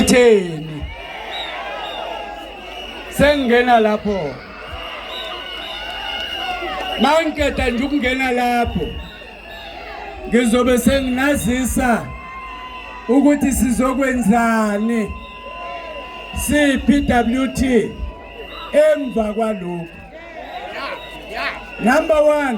itheni sengingena lapho mangikeda nje ukungena lapho ngizobe senginazisa ukuthi sizokwenzani siPWT emva kwalokho number 1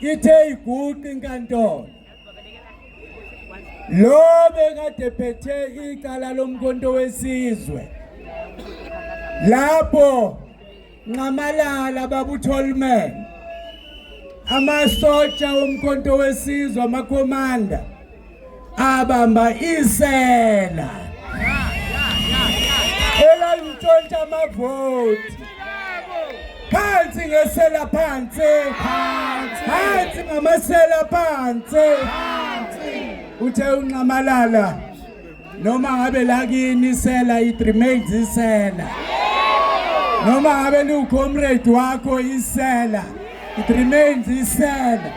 ithe iguqi inkantolo lo bekade phethe icala lomkhonto wesizwe lapho nxamalala babutholman amasotsha omkhonto wesizwe amakhomanda abamba isela elalitshontsha amavoti phansi ngesela phansi phansi ngamasela phansi uthe unxamalala noma ngabe la kini isela it remains isela noma ngabe liwucomrade wakho isela it remains isela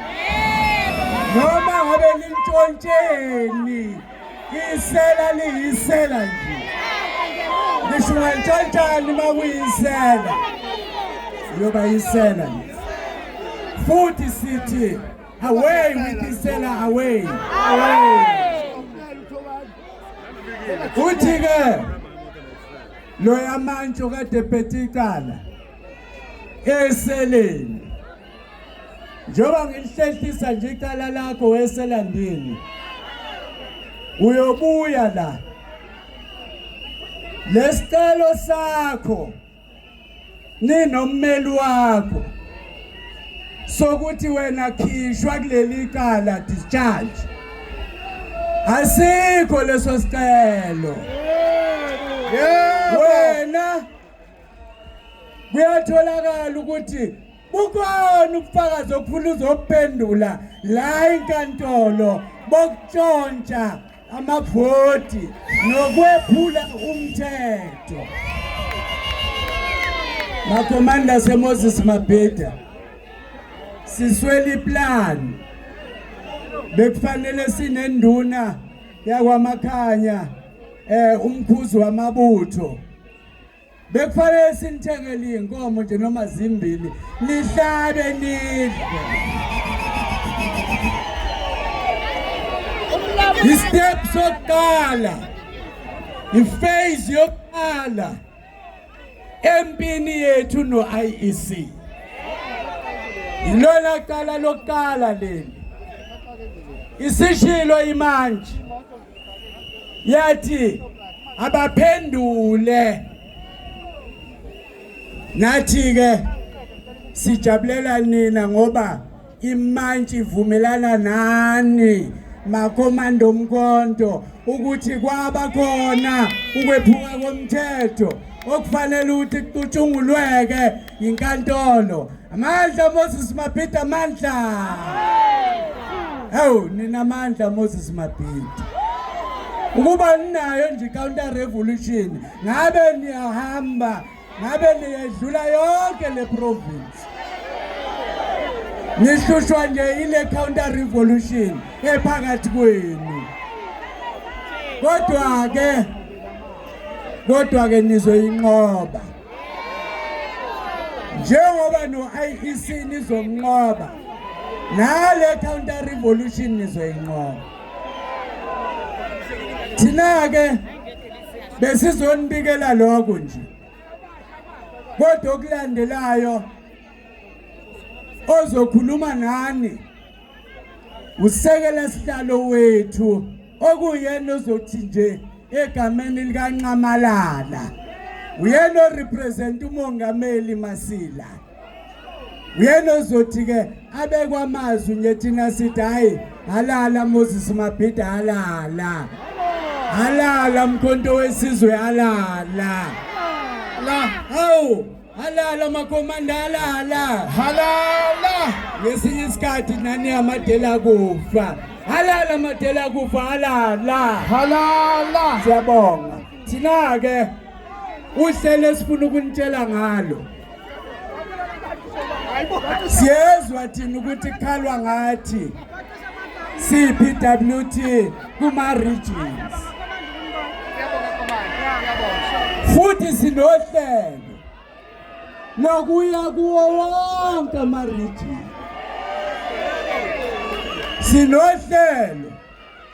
noma ngabe lintshontsheni isela liyisela nje ngisho ungantshontshani uma kuyisela uyoba yisela nje futhi sithi Away with the seller away. Away. Uthi ke lo yamantsho kade phethe icala eseleni. Njengoba ngilihlehlisa nje icala lakho weselandini. Uyobuya la. Lesicelo sakho ninommeli wakho sokuthi wena khishwa kuleli cala discharge asikho leso sicelo wena kuyatholakala ukuthi bukhona ubufakazi okufuna uzophendula la inkantolo bokutshontsha amabhodi nokwephula umthetho makomanda semoses mabheda siswela iplan bekufanele sinenduna yakwamakhanya eh umkhuzi wamabutho bekufanele sinithengele iy'nkomo nje noma zimbili nihlabe nidle istep sokuqala ifase yokuqala empini yethu no-iec yilona cala lokuqala leli isishilo imanje yathi abaphendule nathi ke sijabulela nina ngoba imantshi ivumelana nani makomando mkonto ukuthi kwaba khona ukwephuka komthetho okufanele ukuthi kucutshungulweke yinkantolo amandla Moses Mabhida amandla hawu nina amandla Moses Mabhida ukuba ninayo nje counter revolution ngabe niyahamba ngabe niyedlula yonke le province nihlushwa nje ile counter revolution ephakathi kwenu kodwa ke kodwa ke nizwe inqoba njengoba no-iec nizomnqoba nale counter revolution nizoyinqoba thina-ke besizonibikela lokho nje kodwa okulandelayo ozokhuluma nani usekela sihlalo wethu okuyena ozothi nje egameni likanxamalala uyena orepresent umongameli masila uyena ozothi ke abekwa amazwi nje thina sithi hayi halala moses mabhida halala halala mkhonto wesizwe halala la hawu Halala makomandala hala. Halala. Ngesinye isikhathi nani amadela kufa. Halala amadela kufa halala. Halala. Siyabonga. Thina ke uhlelo esifuna ukunitshela ngalo. Siyezwa thina ukuthi khalwa ngathi. CPWT kuma regions futhi sinohlelo lokuya kuwo wonke ama regions sinohlelo